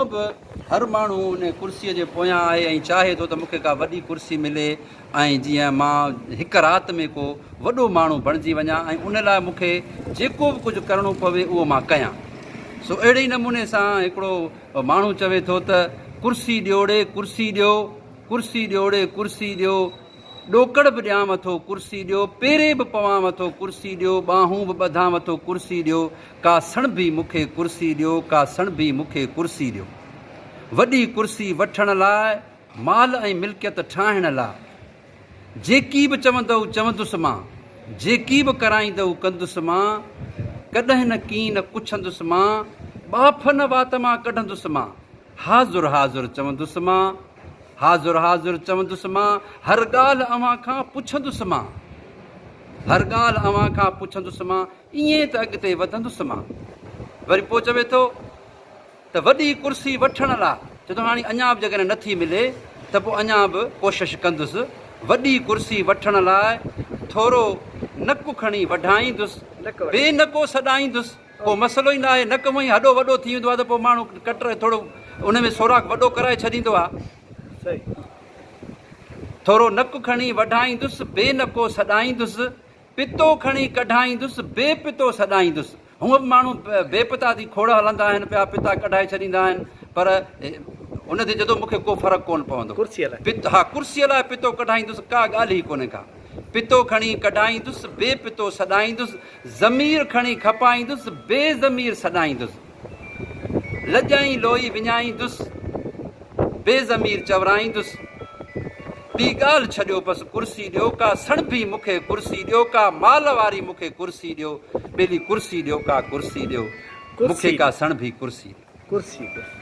اڄ به هر ماڻهو ان ڪرسيء جي پويان آهي ۽ چاهي ٿو ته مون کي ڪا وڏي ڪرسي ملي ۽ جيئن مان هڪ رات ۾ ڪو وڏو ماڻهو بڻجي وڃان ۽ ان لاء مون کي جيڪو به ڪجهه ڪرڻو پوي اهو مان ڪيان. سو اهڙي ئي نموني سان هڪڙو ماڻهو چوي ٿو ته ڪرسي ڏيوڙي ڪرسي ڏيو، ڪرسي ڏيوڙي ڪرسي ڏيو. ڏوڪڙ به ڏيانء ٿو ڪرسي ڏيو، پيري به پوانء ٿو ڪرسي ڏيو، ٻانهون به ٻڌانء ٿو ڪرسي ڏيو، ڪا سڻڀي مون کي ڪرسي ڏيو، ڪا سڻڀي مون کي ڪرسي ڏيو. وڏي ڪرسي وٺڻ لاء، مال ۽ ملڪيت ٺاهڻ لاء. جيڪي به چوندؤ چوندس مان، جيڪي به ڪرائيندؤ ڪندس مان، ڪڏهن نه ڪين پڇندس مان، ٻاڦ نه وات مان ڪڍندس مان، حاضر حاضر چوندس مان، حاضر حاضر چوندس مان، هر ڳالهه اوهان کان پڇندس مان، هر ڳالهه اوهان کان پڇندس مان، ائين ته اڳتي وڌندس مان. وري پوء چوي ٿو ته وڏي ڪرسي وٺڻ لا چوي ٿو هاڻي اڃا به جيڪڏهن نه ٿي ملي ته پوء اڃا به ڪوشش ڪندس، وڏي ڪرسي وٺڻ لاء ٿورو نڪ کڻي وڍائيندس، بي نڪو سڏائيندس. ڪو مسئلو ئي نه آهي نڪ هونئن ئي هڏو وڏو ٿي ويندو آهي ته پوء ماڻهو ڪٽر ٿورو ان ۾ سوراخ وڏو ڪرائي ڇڏيندو آهي ٿورو نڪ کڻي وڍائيندس بي نڪو سڏائيندس پتو کڻي ڪڍائيندس بي پتو سڏائيندس هونء به ماڻهو بي پتا ٿي کوڙ هلندا آهن پيا پتا ڪڍائي ڇڏيندا آهن پر ان تي جدو مونکي ڪو فرق ڪون پوندو ڪرسي لاء پت ها ڪرسي لاء پتو ڪڍائيندس ڪا ڳالهه ئي ڪونهي ڪا پتو کڻي ڪڍائيندس بي پتو سڏائيندس ضمير کڻي کپائيندس، بي ضمير سڏائيندس، لڄائين لوئي وڃائيندس، بي ضمير چورائيندس، ٻي ڳالهه ڇڏيو بس ڪرسي ڏيو ڪا سڻڀي مون کي ڪرسي ڏيو ڪا مال واري مون کي ڪرسي ڏيو ٻيلي ڪرسي ڏيو ڪا ڪرسي ڏيو مون کي ڪا سڻڀي ڪرسي ڏيو.